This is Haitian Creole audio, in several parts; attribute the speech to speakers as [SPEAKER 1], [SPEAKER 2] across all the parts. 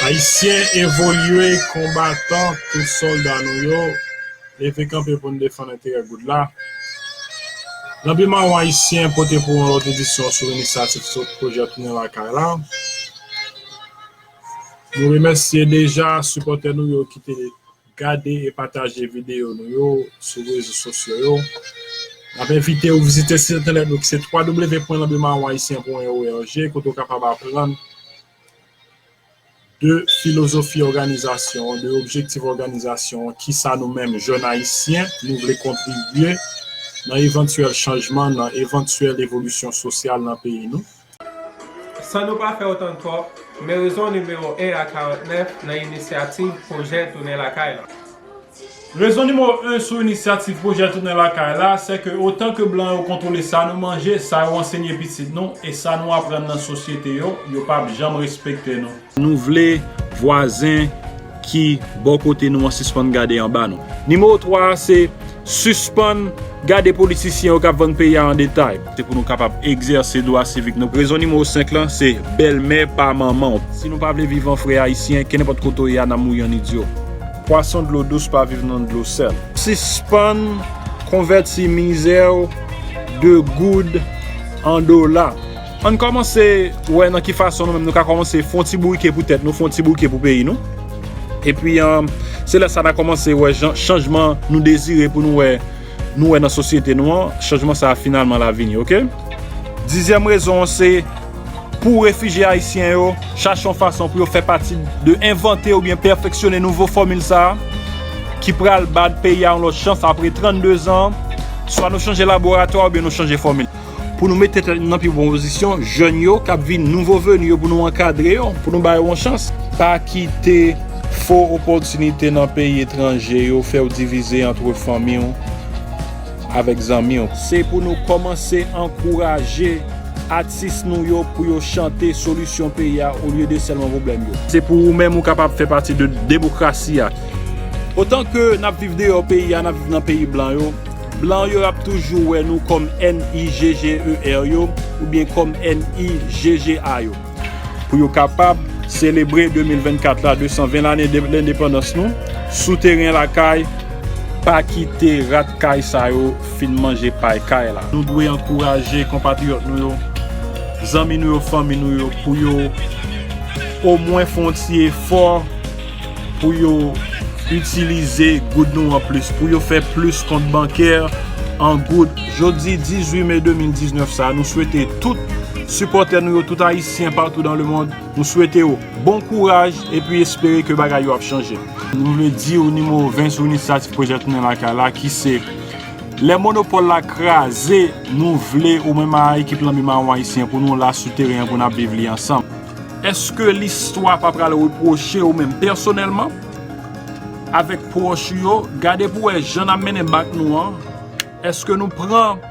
[SPEAKER 1] Ayisyen evolye konbatan tout solda nou yo leve kanpe pou n defann enterè goud la Lanbi mawon ayisyen pote pou ou yon lòt edisyon sou inisyativ Pwojè Tounen Lakay la. Nou remèsye deja sipòtè nou yo ki te gade e pataje videyo nou yo sou rezo sosyo yo. N ap envite ou vizite sit entènèt nou ki se www.lanbimaronhaitien.org kote ou kapab aprann de filozofi òganizasyon an, de objektif òganizasyon an, kisa nou menm jèn ayisyen nou vle kontribye nan evantyèl chanjman, nan evantyèl evolisyon sosyal nan peyi nou. San
[SPEAKER 2] nou pa fè otan twòp, men rezon nimewo 1 a 49 nan inisyativ pwojè Tounen Lakay la.
[SPEAKER 1] Rezon nimewo 1 sou inisyativ pwojè Tounen Lakay la, se ke otan ke blan yo kontwole sa nou manje, sa yo ansenye pitit nou, e sa nou aprann nan sosyete yo, yo pap janm respekte nou. Nou vle vwazen ki bò kote nou an sispann gade anba nou. Nimewo 3 a se, Sispann gade politisyen yo k ap vann peyi a an detay. Se pou nou kapab egzèse dwa sivik nou. Rezon nimewo 5 lan se, Bèlmè pa manman w. Si nou pa vle viv an frè Ayisyen, kenenpòt kote w ye a nan mouri an idyo. Pwason dlo dous pa viv nan dlo sèl. Sispann konvèti mizè w de goud an dola. Ann kòmanse wè nan ki fason nou menm nou ka kòmanse fon ti bourike pou tèt nou, fon ti bourike pou peyi nou. Epi se lè sa na kòmanse wè jan chanjman nou dezire pou nou wè nou wè nan sosyete nou an, chanjman sa finalman la vini ok. Dizyèm rezon an se pou refijye ayisyen yo chache yon fason pou yo fè pati de envante oubyen pèfeksyone nouvo fòmil sa ki pral ba peyi a yon lòt chans apre 32 zan swa nou chanje laboratwa oubyen nou chanje fòmil. Pou nou mete tèt nou nan pi bon pozisyon, jèn yo k ap vin, nouvo veni yo pou nou ankadre yo, pou nou ba yo yon chans. Pa kite fo opòtinite nan peyi etranje yo fè w divize antre fanmi w avèk zanmi w. Se pou nou kòmanse ankouraje atis nou yo pou yo chante solisyon peyi a olye de sèlman pwoblèm yo. Se pou ou menm ou kapab fè pati de demokrasi a. Otan ke n ap viv deyò peyi a, n ap viv nan peyi blan yo. Blan yo ap toujou wè nou kòm NIGGER yo oubyen kòm NIGGA yo. Pou yo kapab selebre 2024 la, 220 lane de lendepandans nou, sou teren lakay, pa kite rat kay sa yo fin manje pay kay la. Nou dwe ankouraje konpatriyòt nou yo, zanmi nou yo, fanmi nou yo pou yo omwen fè yon ti efò. pou yo itilize goud nou an plis, pou yo fè plis kont bankè an goud. Jodi 18 me 2019 sa a, nou swete tout sipòtè nou yo, tout Ayisyen patou dan lemond, nou swete yo bon kouraj epi espere ke bagay yo ap chanje. Nou vle di ou nimewo 20 sou Inisiyativ Pwojè Tounen Lakay la ki se, Lè monopòl la kraze, nou vle ou menm a ekip Lanbi Mawon Ayisyen pou nou la sou teren an pou n ap viv li ansanm. Èske listwa pa pral repwoche ou menm pèsonèlman avèk pwòch ou yo? Gade pou wè jan n ap mennen bak nou an. Èske nou pran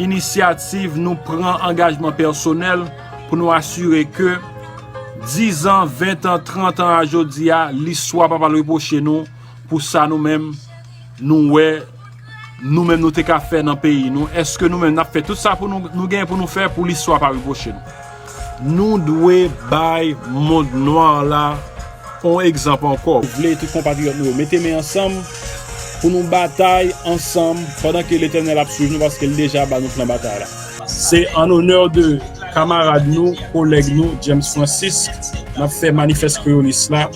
[SPEAKER 1] inisyativ, nou pran angajman pèsonèl pou nou asire ke dizan, ventan, trantan a jodi a, listwa pa pral repwoche nou pou sa nou menm? nou wè nou menm nou te ka fè nan peyi nou? Èske nou menm n ap fè tout sa nou gen pou nou fè pou listwa pa repwoche nou? Nou dwe bay mond nwa la yon egzanp ankò. Nou vle tout konpatriyòt nou yo mete men ansanm pou nou batay ansanm pandan ke Letènèl ap swiv nou paske li deja ba nou plan batay la. Se an onè de kamarad nou, kolèg nou, James Francisque, n ap fè Manifès Kreyolis la.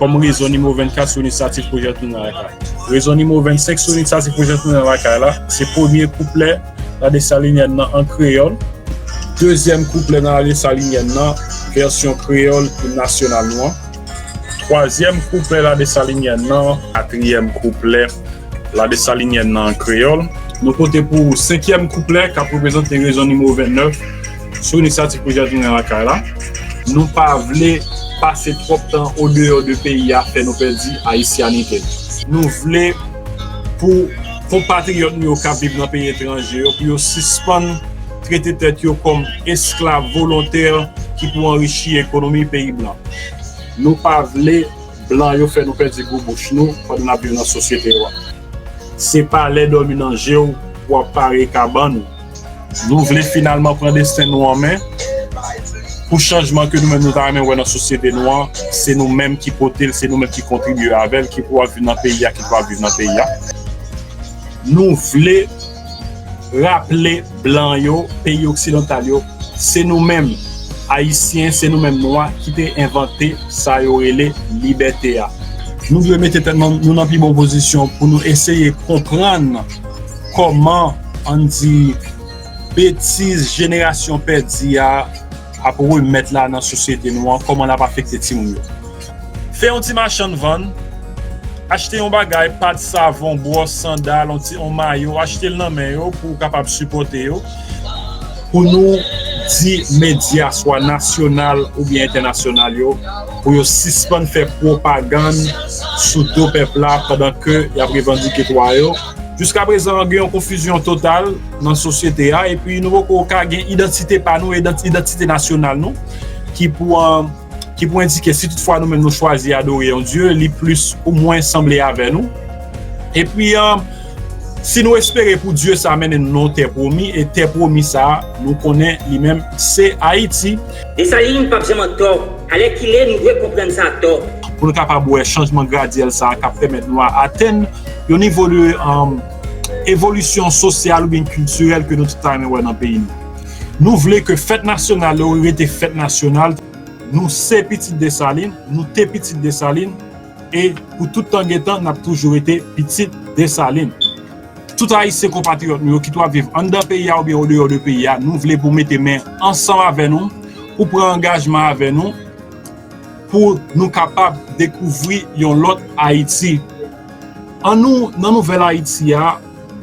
[SPEAKER 1] kòm rezon nimewo 24 sou inisyativ pwojè Tounen Lakay. Rezon nimewo 25 sou inisyativ pwojè Tounen Lakay la se premye kouplè ladesalinièn nan an kreyòl, dezyèm kouplè nan ladesalinièn nan vèsyon kreyòl im nasyonal nou an, twazyèm kouplè ladesalinièn nan, katriyèm kouplè ladesalinièn nan an kreyòl. Nou pote pou ou senkyèm kouplè k ap reprezante rezon nimewo 29. Sou inisyativ Prezidan Jovenel lakay la, nou pa vle pase twòp tan odeyò de peyi a fè nou pèdi ayisyanite nou. Nou vle pou konpatriyòt nou yo k ap viv nan peyi etranje yo pou yo sispann trete tèt yo kòm esklav volontè ki pou anrichi ekonomi peyi blan. Nou pa vle blan yo fè nou pèdi gou bouch nou pandan n ap viv nan sosyete yo a. Se pa lè dòmi nan je w pou w ap pare kabann ou. Nou vle finalman pran desten nou an men, pou chanjman ke nou menm nou ta renmen wè nan sosyete nou an, se nou menm ki pote l, se nou menm ki kontribye avè l, ki pou ap viv nan peyi a, ki pa ap viv nan peyi a. Nou vle raple blan yo, peyi oksidantal yo, se nou menm Ayisyen, se nou menm Nwa ki te envante sa yo rele libète a. Nou dwe mete tèt nou nan pi bon pozisyon pou nou eseye konprann. Kòman ann di betiz jenerasyon pèdi a ap remèt la nan sosyete nou an, kòman l ap afekte timoun yo. Fè yon ti machann vann, achte yon bagay, pat, savon, bwòs, sandal, yon ti yon mayo, achte l nan men yo pou w kapab sipòte yo. Pou nou di medya swa nasyonal oubyen entènasyonal yo pou yo sispann fè pwopagann sou do pèp la pandan ke y ap revandike dwa yo. Jiska prezan gen yon konfizyon total nan sosyete a epi nou poko ka gen idantite pa nou, idantite nasyonal nou ki pou endike si tout fwa nou menm nou chwazi adore yon dye li plis ou mwens sanble avè nou. Epi. Si nou espere pou Dye sa mennen nou nan yon tè pwomi, e tè pwomi sa a, nou konnen li menm se Ayiti. Desalin pap
[SPEAKER 3] janm an tò. Alèkile, nou dwe konprann sa tò. Pou nou kapab wè
[SPEAKER 1] chanjman gradyèl sa a k ap pèmèt nou a atenn yon nivo de evolisyon sosyal oubyen kiltirèl ke nou tout ta renmen wè nan peyi nou. Nou vle ke fèt nasyonal yo rete fèt nasyonal. Nou se pitit Desalin, nou te pitit Desalin. E pou tout tan gen tan, n ap toujou rete pitit Desalin. Tout Ayisyen konpatriyòt nou yo kit w ap viv anndan peyi a oubyen odeyò de peyi a, nou vle pou mete men ansanm avè nou, pou pran angajman avè nou, pou nou kapab dekouvri yon lòt Ayiti. An nou, nan nouvèl Ayiti a,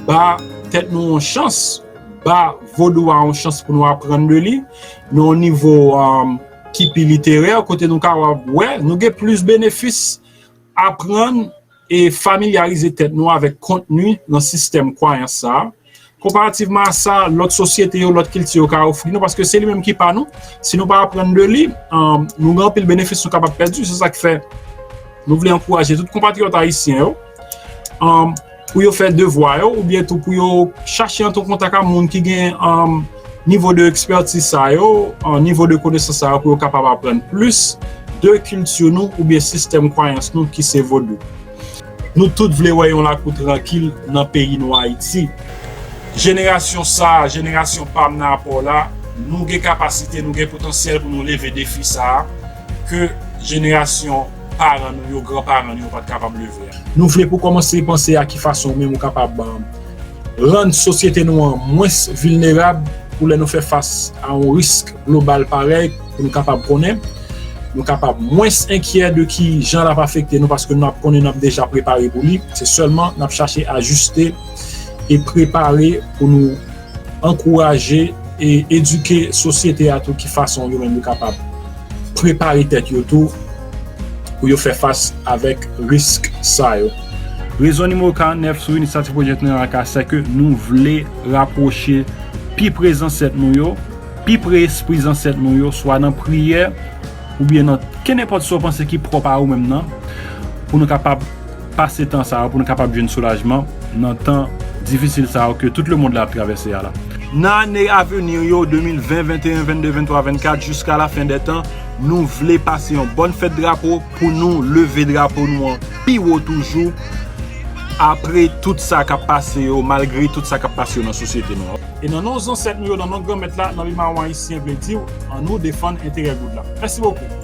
[SPEAKER 1] ba tèt nou yon chans, ba Vodou a yon chans pou nou aprann de li, nan yon nivo. ki pi literè, kote nou ka wè, nou gen plis benefis aprann e familyarize tèt nou avèk kontni nan sistèm kwayans sa a, konparativman a sa lòt sosyete yo, lòt kilti yo ka ofri nou, paske se li menm ki pa nou, si nou pa aprann de li, nou gen anpil benefis nou kapab pèdi, se sa ki fè nou vle ankouraje tout konpatriyòt ayisyen yo. pou yo fè devwa yo oubyen tou pou yo chache antre an kontak ak moun ki gen nivo de ekspètiz sa yo, nivo de konesans sa yo pou yo kapab aprann plis de kilti nou oubyen sistèm kwayans nou ki se vodou. Nou tout vle wè yon lakou trankil nan peyi nou Ayiti. Jenerasyon sa, jenerasyon pa m nan apò w la, nou gen kapasite, nou gen potansyèl pou nou leve defi sa. ke jenerasyon paran nou yo, gran paran nou yo pat kapab leve a. Nou vle pou kòmanse panse a ki fason ou menm ou kapab rann sosyete nou an mwens vilnerab pou lè nou fè fas a yon risk global parèy pou nou kapab konnen, nou kapab mwens enkyè de ki jan lap afekte nou paske nou ap konnen nap deja prepare pou li, se sèlman nap chache ajiste e prepare pou nou. ankouraje e edike sosyete a tou ki fason yo menm yo kapab prepare tèt yo tou pou yo fè fas avèk risk sa yo. Rezon nimewo 49 sou inisyativ pwojè Tren ak a sèke nou vle rapwoche pi pre zansèt nou yo, pi pre espri zansèt nou yo swa nan priyè oubyen nan kenenpòt sa w panse ki pwòp a ou menm nan pou nou kapab pase tan sa yo pou nou kapab jwenn soulajman nan tan difisil sa yo ke tout le mond la ap travèse a la. Nan ane aveni yo, 2020, 21, 22, 23, 24, jiska la fen dè tan, nou vle pase yon bòn fèt drapo pou nou leve drapo nou an pi wo toujou apre tout sa k ap pase yo, malgre tout sa k ap pase yo nan sosyete nou an. E nan non zansèt nou yo, nan non Granmèt la, nan li mawon ayisyen vle di w, an nou defann enterè goud la. Mèsi bokou.